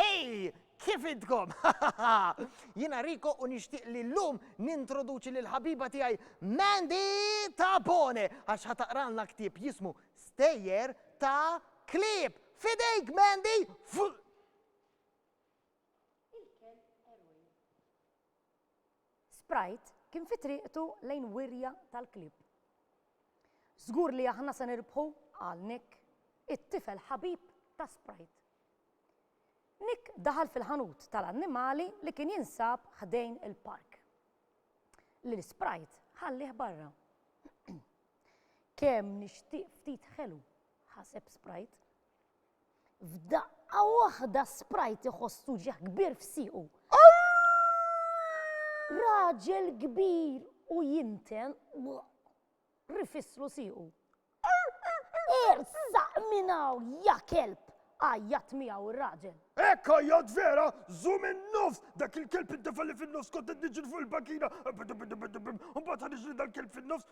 Hej, kif intkom? Jiena Riko u nixtieq li llum nintroduċi lil ħabiba tiegħi Mandy Tabone għax ħataqralna ktieb jismu Stejjer ta' Klieb. Fidejk Mandy! Sprite kien fi triqtu lejn wirja tal-klieb. Żgur li aħna se nirbħu, qal Nick, it-tifel ħabib ta' Sprite. Nick daħal fil-ħanut tal-annimali li kien jinsab ħdejn il-park. Lil Sprite ħallih barra. Kemm nixtieq ftit ħelu, ħaseb Sprite. F'daqqa waħda Sprite iħoss uġigħ kbir f'siequ. Raġel kbir u jinten rifisslu siequ. Ersaq minn hawn ja kelb! għajjat miegħu r-raġel. Hekk għajjat vera, żum in-nofs, dak il-kelb id-defa li fin-nofs kont qed niġri fuq il-bankina. Mbagħad ħariġ li dal-kelb fin-nofs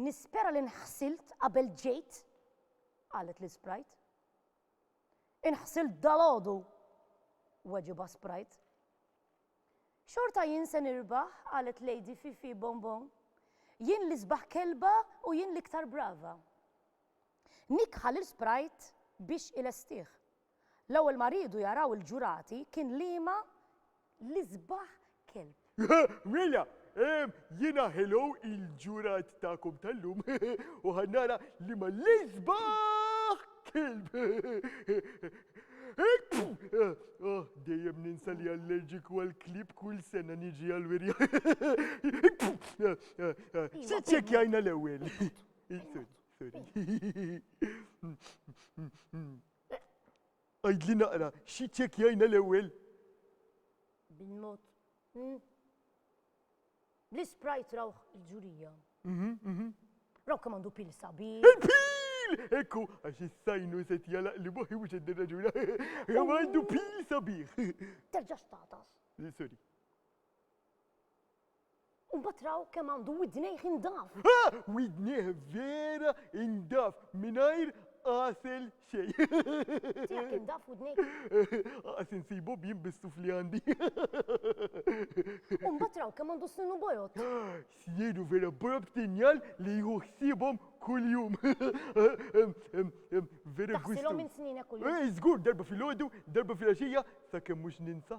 Nispera li nħsilt qabel ġejt, qalet lil Sprite. Inħsilt dalgħodu, weġibha Sprite. Xorta jien se nirbaħ, qalet Lady Fifi Bonbon. Jien l-isbaħ kelba u jien l-iktar brava. Nikħa lil Sprite biex ilestih. L-ewwel ma riedu jaraw il-ġurati kien liema l-isbaħ kelb. Mela, jiena hello il-ġurat tagħkom tal-lum u ħa nara liema l-isbaħ kelb. Oh, dejjem ninsa li allerġiku għall-klieb kull sena niġi għall-wirja. Se ċċekkjajna l-ewwel. Sorry, sorry. Għidli naqra, xi ċċekkjajna l-ewwel? Bil-mod. Hmm? L-isprajt rawh il-ġurija. Mhm, mhm. Raw kemm għandu pil sabiħ. Il-pil! Ekku, għax is-sajnu se tjalaq li boħi mhux qed nirraġuna. Kemm għandu pil sabiħ. Terġax tatas. Sorry. U mbagħad raw kemm għandu widnejh indaf. Ha! Widnejh vera indaf mingħajr qasel xej. Tiegħek indaf widnejk? Qas insibu bjien bis-suf li għandi. U mbagħad raw kemm għandu sninu bojod. Sninu vera bojod tinjal li jieħu ħsiebhom kuljum. Vera gwist. Taħsilhom minn sninek kuljum. Żgur darba fil-għodu, darba fil-għaxija, sakemm mhux ninsa.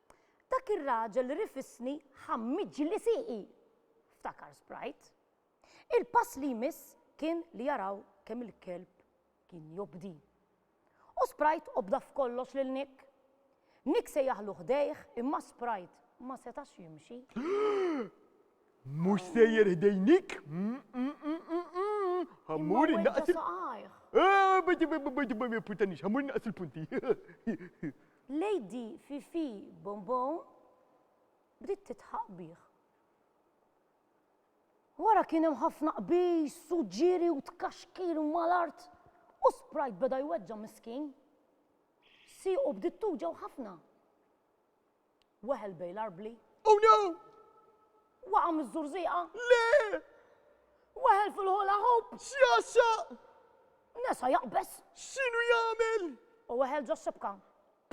Dak ir-raġel rifisni ħammiġli sieqi! ftakar Sprite. Il-pass li jmiss kien li jaraw kemm il-kelb kien jobdi. U Sprite obda f'kollox lil Nick. Nick sejjaħlu ħdejh imma Sprite ma setax jimxi. Mhux sejjer ħdej Nick! Ħammur innaqqas il-punti. Ħammur innaqqas il-punti. Lady Fifi Bombon bdiet tidħaq bih. Wara kien hemm ħafna qbiż u ġiri u tkaxkir mal-art u Sprite beda jweġġa' miskin. Siequ bdiet tuġgħu ħafna. Weħel bejn l-arbli. Oh no! Waqa' miż-żurżieqa. Le! Weħel fil-hula hoop. Sjasaq! Nesa jaqbeż. X'inhu jagħmel? U weħel ġo xibka.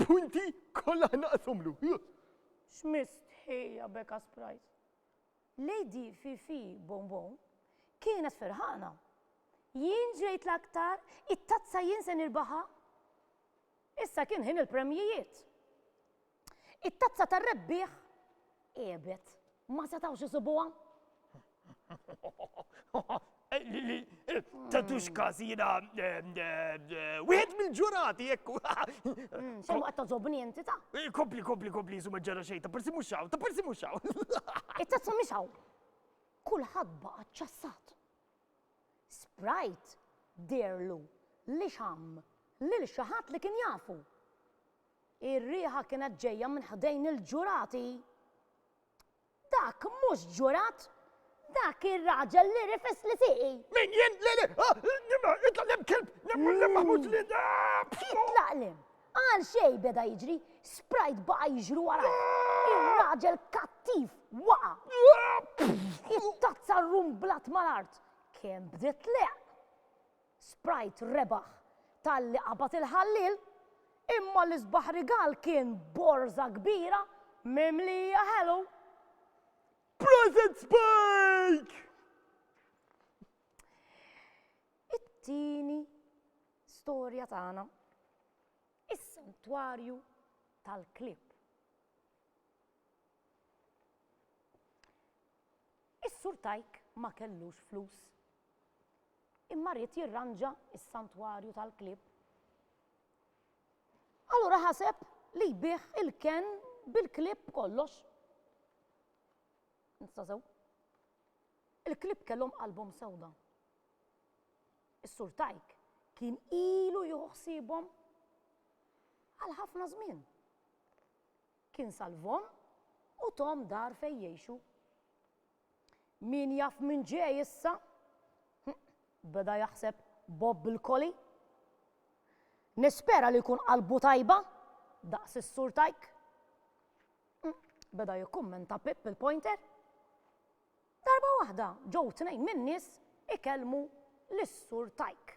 Punti kollha naqshomlu. X'mistħija beka Sprite. Lady Fifi Bonbon kienet ferħana. Jien ġejt l-aktar, it-tazza jien se nirbaħa. Issa kien ħin il-premjijiet. It-tazza tar-rebbieħ għiebet. Ma setgħux isibuha. Tatux każ jiena wieħed mill-ġurati jekk. Mm, xejn waqt toġobni inti ta'. Eh, kompli, kompli, kompli, jisu ma ġara xejn, ta' persi mhux hawn, ta' persi mhux hawn. It-tazza mhix hawn. Kulħadd baqa' ċassat. Sprite dirlu li xam lil xi ħadd li kien jafu. Ir-riħa kienet ġejja minn ħdejn il-ġurati. Dak mhux ġurat! Dak ir-raġel li rifes li tiqi! Min jien? Le, le! Ah, Nima, itlaq lem kelb! Nemmu lem maħmut li da! Itlaq lem! Għal xej beda jiġri, sprajt baqa jiġru wara. Ir-raġel kattiv waqa. It-tazza rumblat mal-art. Kemm bdiet leq. Sprite rebaħ talli qabad il-ħalliel, imma l-isbaħ rigal kien borża kbira mimlija ħelu. Prosit Spike! It-tieni storja tagħna. Is-santwarju tal-klib. Is-sur tajk ma kellux flus. Imma ried jirranġa s-santwarju tal-klieb. Allura ħaseb li jbigħ il-kenn bil-klieb kollox. Nista' sew? Il-klieb kellhom qalbhom sewda. Is-sur Tajk kien ilu jieħu ħsiebhom għal ħafna żmien. Kien salvhom u tom dar fejn jgħixu. Min jaf min ġej issa? Hm, beda jaħseb Bob bil-koli. Nispera li jkun qalbu tajba, daqs is-sur tajk. Hm, beda jikkummenta Pip il-pointer. Darba waħda ġew tnejn min-nies ikellmu lis-sur tajk.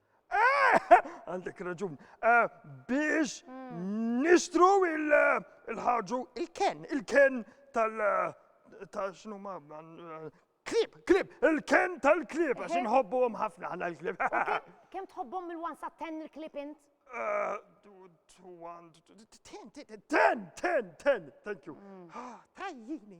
Għandek raġun. Eh, biex hmm. nistru il-ħarġu il-ken, il-ken tal- eh, ta' xnu ma' eh, klib, klib, il-ken tal-klib, għax nħobbu għom ħafna għana l-klib. Kem tħobbom mil-wan sa' ten il-klib int? Ten, ten, ten, ten, thank you. Hmm. Ah, tajjini.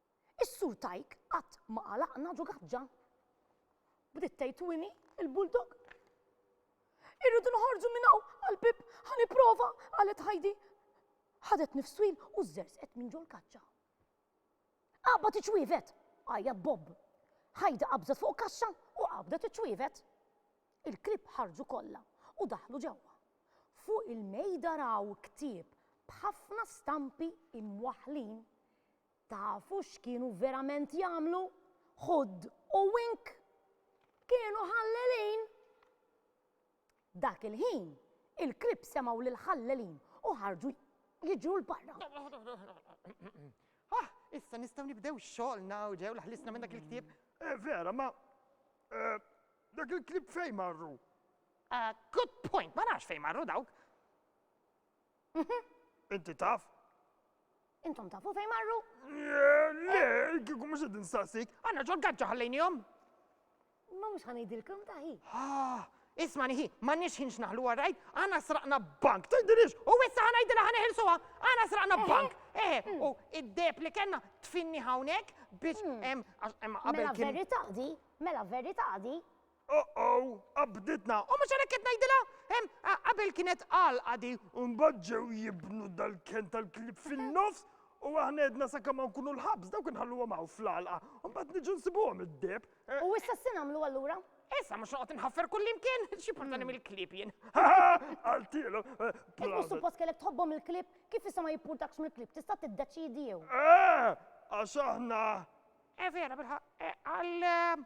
Is-Sur Tajk qatt ma qalaqna ġo gaġġa. Bdiet tgħid Winnie, il-bulldog. Irridu noħorġu minn hawn għall-bieb ħa nipprova, qalet Heidi. Ħadet nifs twil u żżerżqet minn ġol kaċċa. Qabad iċwievet, għajjat Bob. Heidi qabżet fuq kaxxa u qabdet iċwievet. Il-klieb ħarġu kollha u daħlu ġewwa. Fuq il-mejda raw ktieb b'ħafna stampi imwaħħlin Tafu x'kienu verament jagħmlu? Hood u Wink kienu ħallelin! Dak il-ħin, il-klieb semgħu lill-ħallelin u ħarġu jiġru 'l barra. Ah, issa nistgħu nibdew xogħolna u ġew l-ħlisna minn dak il-ktieb. Eh, vera, ma eh, dak il-klieb fejn marru? Ah, good point, ma nafx fejn marru dawk. Inti taf? Intom tafu fejn marru? Le, kieku mhux qed nistaqsik. Għandna ġol gaġġa ħallejnihom. Ma mhux ħanejdilkom taħi. Ah, isma' nieħi, m'għandniex ħin x'naħlu għarrajt, għana sraqna bank, tgħidilix, u issa ħanajdilha ħaneħilsuha, għana sraqna bank. Eh, u id-deb li kellna tfinni hawnhekk biex hemm qabel Mela verita' di, mela verita' di. Oh-oh, qabditna! U mhux għalhekk qed ngħidilha? Hemm, qabel kienet għalqa di. U mbagħad ġew jibnu dal-kenn tal-klieb fin-nofs u aħna għedna sakemm ma nkunu l-ħabs dawk inħalluhom hawn fl-għalqa u mbagħad niġu nsibuhom id-deheb. U issa x'se nagħmlu allura? Issa mhux noqgħod inħaffer kullimkien, xi portani hmm. mill-klib jien. Għaltielu. Eh, Imma suppost kellek tħobbhom il-klib, kif issa ma jippurtakx mill-klib, tista' tiddeċidi jew. Eh, għax aħna. Eh vera, bilħaq, eh, għal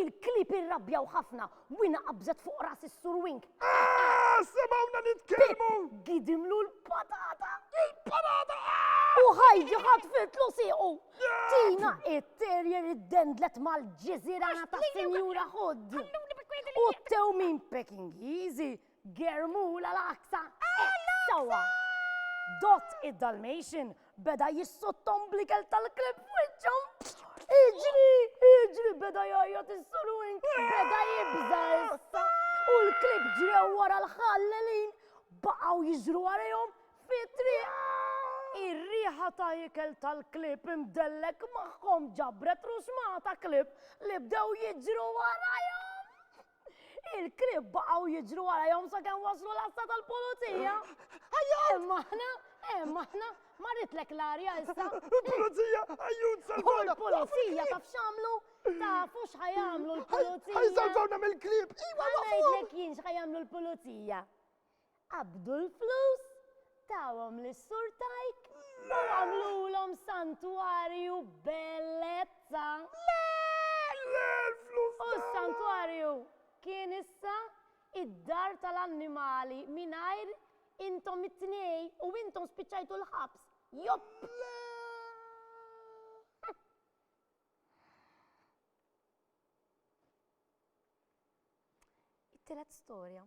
Il-klieb irrabjaw ħafna. Wina qabżet fuq ras is-Sur Wink. Ahh! Semgħuna nitkellmu! Pip gidimlu l-patata. Il-patata! Ahh! U Heidi ħatfitlu siequ. Tina it-terrier iddendlet mal-ġiżirana tas-Sinjura Hood. U t-tewmin Pekingiżi Germula l-Aqsa! Sewwa! Dott id-Dalmatian beda jissottom bl-ikel tal-klib f'wiċċu. Iġri, iġri, beda jgħajjat is-surwin, beda jibża issa. U l-klib ġrew wara l-ħallelin, baqgħu jiġru għalihom fitri. Ir-riħa ta' ikel tal-klib imdellek magħhom ġabret ruxmata klib li bdew jiġru warajhom. Il-krib baqgħu jiġru warajhom sakemm waslu l-assa tal-pulizija. Ajja! Hemm aħna, hemm aħna, marritlek l-arja issa. Il-pulizija, ajjun salvawna. Il-pulizija taf x'għamlu? Tafu x'ħajamlu l-pulizija. Ħajsalvawna mill-krib. Iwa, ngħidlek jien x'ħajamlu l-pulizija. qabdu l-flus, tawhom lis-Sur Tajk u għamlulhom santwarju bellezza. Le! Le! L-flus tagħna! U s-santwarju kien issa id-dar tal-annimali mingħajr intom it-tnej u intom spiċċajtu l-ħabs. Jopp! Le! It-tielet storja.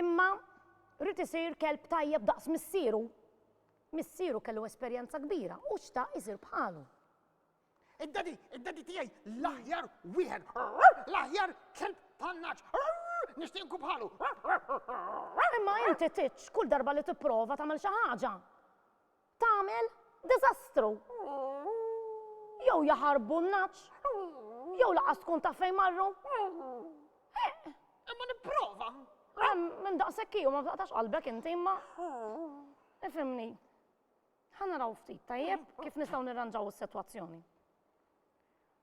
Imma ried isir kelb tajjeb daqs missieru. Missieru kellu esperjenza kbira u xtaq isir bħalu. Id-daddy, id-daddy tiegħi l-aħjar wieħed, l-aħjar kelb tan-naċ. Nixtieq nkun bħalu. Imma inti titx kull darba li tipprova tagħmel xi ħaġa. Tagħmel diżastru. Jew jaħarbu n-nagħaġ. Jew laqas tkun taf fejn marru. Eh! Imma nipprova. Eh, minn daqshekk hi u ma taqtax qalbek inti imma. Ifhimni. Ħa naraw ftit tajjeb kif nistgħu nirranġaw is-sitwazzjoni.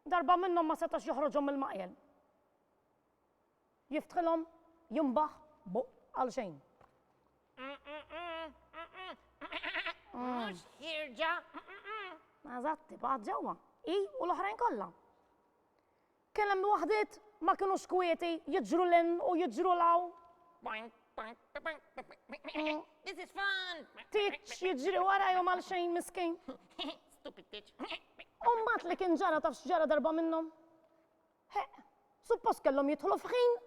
Darba minnhom ma setax joħroġhom mill-maqjel. Jiftħilhom jimbaħ b'buq għal xejn. Mhux ħierġa. Eżatt, tibgħat ġewwa, hi u l-oħrajn kollha. Kien hemm waħdiet ma kinux kwieti jiġru lin u jiġru law. This is fun! Tiċ jiġri warajhom għal xejn miskin. Stupid tiċ. Umbat li kien ġara taf x'ġara darba minnhom. Heq, suppost kellhom jidħlu f'ħin,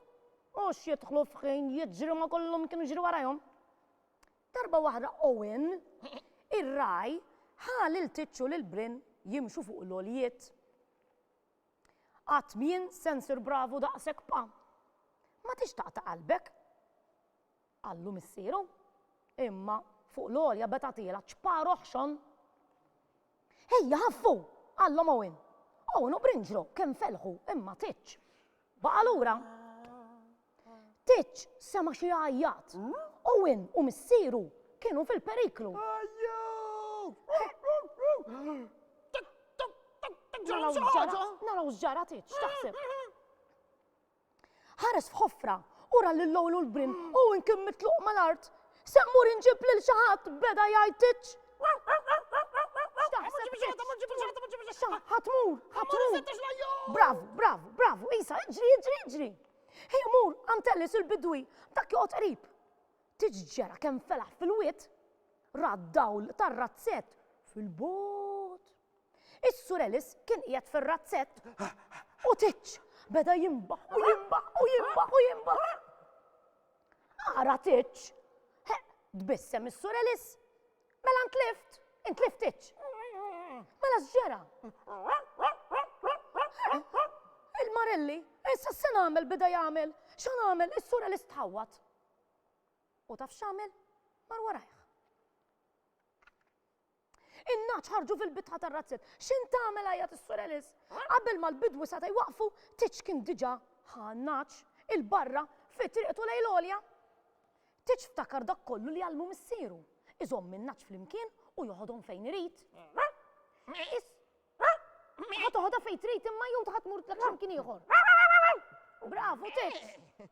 mhux jidħlu f'ħin jiġru ma' kollhom kienu jiġru warajhom. Darba waħda Owen, ir-ragħaj, ħa lil Tiċċu lil Brin jimxu fuq l-għoljiet. Qatt m'jien se nsir bravu daqshekk pa. Ma tix taqta' qalbek. qallu missieru, imma fuq l-għolja beda' tagħtielha ċpar oħxon. Ejja, ħaffu! qallhom Owen. Owen u Brinġro kemm felħu imma Titch baqa' lura. Titch sema' xi jgħajjat. Owen u missieru kienu fil-periklu. Naraw x'ġara Titch, x'taħseb? Ħares f'ħofra u ra lil Lowlu l-brin u hu kien mitluq mal-art. Se mmur inġib lil xi ħadd beda jgħid titx. Ħatmur, ħatmur. Bravu, bravu, bravu, Isa, iġri, iġri, iġri. Hej, mur, għantellis il-bidwi, dak joqgħod qrib. Tiġġera kemm felaħ fil-wiet, rad dawl tar-razzett fil-bot. Is-Sur Ellis kien qiegħed fir-razzett u Titx beda jimbaħ u jimbaħ u jimbaħ u jimbaħ. Ara Titx, tbissem is-Sur Ellis, mela ntlift, intlift Titx. Mela x'ġera? Il-Marelli, issa se nagħmel bida jagħmel, xa nagħmel is-sura li stħawwat. U taf x'għamel? Mar warajh. In-nagħaġ ħarġu fil-bitħa tar-razzett. X'int tagħmel? għajjat is-Sur Ellis. Qabel ma l-bidwi seta' jwaqqfu, Tiġ kien diġà ħa n-nagħaġ 'il barra fi triqtu lejn l-għolja. Tiġ ftakar dak kollu li għallmu missieru, iżomm in-nagħaġ flimkien u joħodhom fejn irid. Is. Ħa toħodha fejn trid imma jew ħa tmur tlek x'imkien ieħor. Bravu, Tiġ!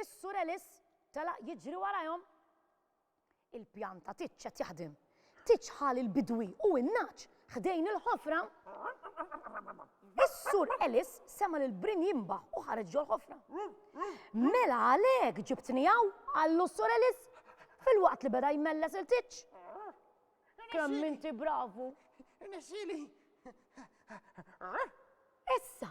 Is-Sur Ellis telaq jiġri warajhom. Il-pjan ta' Titx qed jaħdem. Titx ħa lill-bidwi u n-nagħaġ ħdejn il-ħofra. Is-Sur Ellis sema' lill-brin jinbaħ u ħareġ ġol-ħofra. Mela għalhekk ġibtni hawn, qallu s-Sur Ellis, filwaqt li beda jmelles lil Titx. Kemm inti bravu! Irnexxieli! Issa,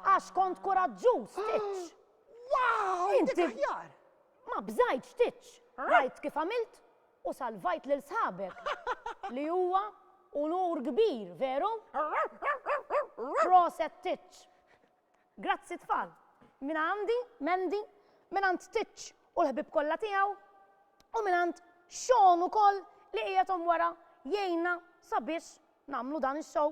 Għax kont kuraġġuż, titx! Wow! Inti aħjar! Ma bżajtx titx! Rajt kif għamilt u salvajt lil sħabek. Li huwa unur kbir, veru? Proset titx! Grazzi tfal! Min għandi, Mendi, min għand titx u l-ħbib kollha tiegħu u min għand Sean ukoll li qiegħed wara jgħinna sabiex nagħmlu dan ix-show.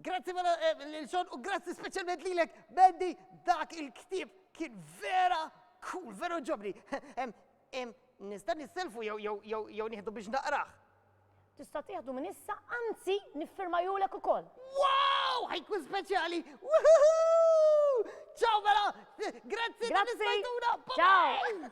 Grazzi mela eh, lil Sean u grazzi speċjalment lilek Mandy dak il-ktieb kien vera cool, vera ġobni. Em, em, Nista' nisselfu jew jew jew jew nieħdu biex naqrah. Tista' tieħdu minn issa, anzi niffirma julek ukoll. Wow! Ħajkun speċjali! Woohoo! Ciao mela! Grazzi tal-istajtuna! Ciao!